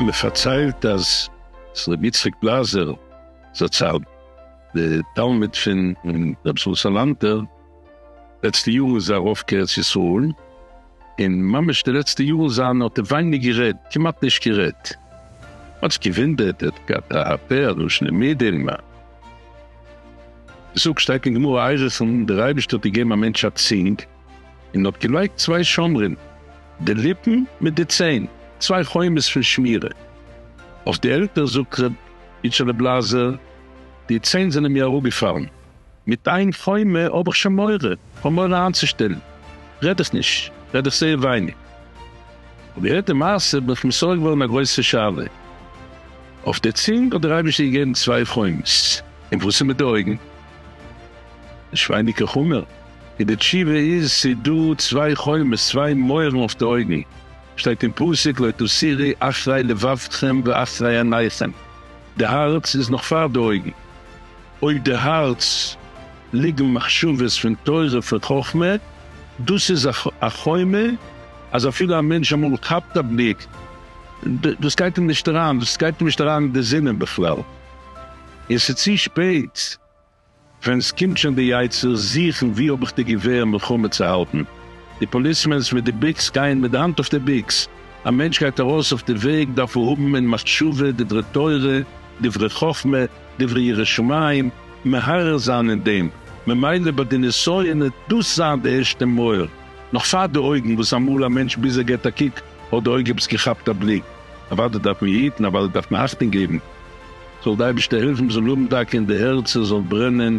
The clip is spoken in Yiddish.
מען פארציילט אז רבי יצחק בלאזער זצל, די תלמיד פון רבי שלום סאלאנטער, לעצטע יארן איז ער ארויף כארץ ישראל, און ממש די לעצטע יארן זיינע האט ער ווייניג גערעדט, כמעט נישט גערעדט. מ'האט זיך געוואונדערט, ער האט געהאט א פה א לשון המעידים, מען זאגט, שטייט אין גמרא איירח'ן, דער אייבערשטער האט געגעבן א מענטש א צינג, און האט געלייגט צוויי שומרים, די ליפן מיט די ציין, צוויי חומות פון שמירה, אויף די עלטער, זאגט ר' איטשעלע בלאזער, די ציין זענען מיר אראפגעפאלן. מיט איין חומה האב איך שוין מורא, כ'האב מורא איינצושטעלן, רעד איך נישט, רעד איך זייער ווייניג. כ'האב געהערט די מעשה בין איך מסור געווארן א גרויסע שאלה אויף די צונג, האט דער אייבערשטער געגעבן צוויי חומות, און וואס איז מיט די אויגן? נישט ווייניגער חמור? און די תשובה איז, ס'איז דא צוויי חומות, צוויי מויערן אויף די אויגן, שטייט אין פסוק לא תסירי אחרי לבבכם ואחרי עיניכם, די הארץ איז נאך פאר די אויגן. אויף די הארץ ליגן מחשבות פון תורה פון חכמה, דאס איז א חומה אז אפילו א מענטש אמאל כאפט א בליק דאס גייט אים נישט אריין, דאס גייט אים נישט אריין אין די זינען בכלל, און ס'איז צו שפעט ווען ס'קומט שוין די יצר זוכן ווי האב איך די געווער מלחמה צו האלטן, די פאליסמענס מיט די ביקס גייען מיט די האנט אויף די ביקס, א מענטש גייט ארויס אויף די וועג דארף ער האבן אין מחשבה דברי תורה דברי חכמה, דברי ירא שמים, מהרהר זיין אין דעם, ממילא ביי די נסיון העט דאס זיין די ערשטע מויער, נאך פאר די אויגן, וואס אמאל א מענטש ביז ער געט א קוק האט די אויג עפעס געכאפט א בליק, אוודאי דארף מען היטן, אוודאי דארף מען אכטונג געבן, זאל די אייבערשטער העלפן מ'זאל האבן דייקא אין די הערצער זאל ברענען